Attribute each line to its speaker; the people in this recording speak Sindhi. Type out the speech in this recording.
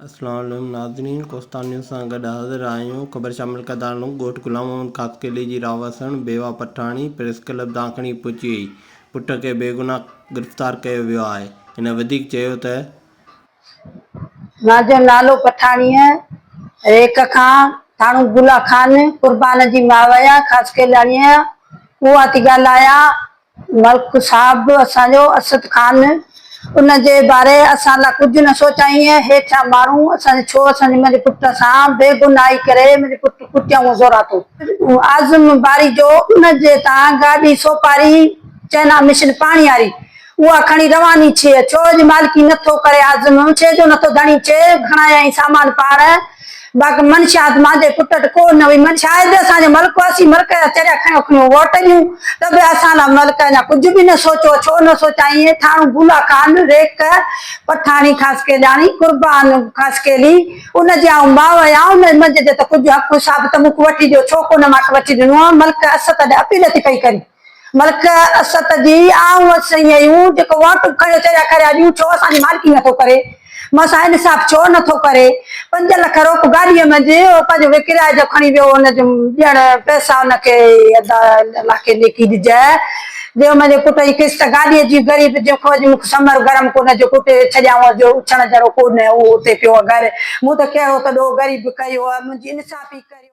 Speaker 1: السلام عليم ناظرين ڪوستان نيوز سان گڏ حاضر آهيون خبر شامل ڪندڙ نون ڳوٺ غلام محمد خاصخيلي جي رهواسڻ بيوا پٺاڻي پريس ڪلب دانکڻي پهچي وئي پٽ کي بيگناهه گرفتار ڪيو ويو آهي هن وڌيڪ چيو ته
Speaker 2: ناظرين لالو پٺاڻي ريڪ کان ٿاڻو گلا خان قربان جي ماويا خاصخيلاڻي اهو آتي ڳالهايا ملڪ صاحب اسان جو اسد خان ان جي باري اسان لا ڪجھ نه سوچائين اي هيٺيان ماڻهو اسان جي ڇو اسان جي منهنجي پٽ سان بي گناهي ڪري منهنجي پٽ ڪٽيائون زوراتو. اعظم باريجو ان جي تان گاڏي سوپاري چئنا مشن پاڻي هاري اها کڻي رواني ڇي ڇو جي مالڪي نه ٿو ڪري اعظم ڇي جو نه ٿو ڌڻي ڇي گھڻايائين سامان پاڻ باقي منشيات مان جي پٽٽ ڪو نه هئي. منشيات آهي به اسان جو ملڪ واسي، ملڪ جا چريا کڻيو کڻيو ووٽ ڏيون ته به اسان لاء ملڪ اڃا ڪجهه به نه سوچو، ڇو نه سوچان ايئن ٿاڻو ڀولا خان، ريڪ، پٺاڻي خاصخيلياڻي، قربان خاصخيلي، ان جي آئون ماء آهيان، ان منجهه جو ته ڪجهه حق حساب ته مون کان وٺي ڏيو، ڇو ڪو نه مان کي وٺي ڏنو آهي، ملڪ اسد اڏي اپيل ٿي پئي ڪري. ملڪ اسد جي آئون هئس سئي هيون جيڪو واٽون کڻيو چريا کريا ڏيون ڇو اسان جي مالڪي نه ٿو ڪري مان سان انصاف ڇو نه ٿو ڪري پنج لک روپ گاڏي منجهه هو پنهنجو وي ڪرايي جو کڻي ويو ان جون ڏيڻ پئسا ان کي ادا الله کي نيڪي ڏجئه جو منهنجي پٽ جي قسط گاڏي جي غريب جي کو جي مونکي سمر گرم ڪونه جو ڪٽي ڇڏيائون جو اڇڻ جهڙو ڪونه هو اتي پيو گهر مون ته ڪهڙو ته ڏوهه غريب ڪيو منهنجي انصافي ڪريو.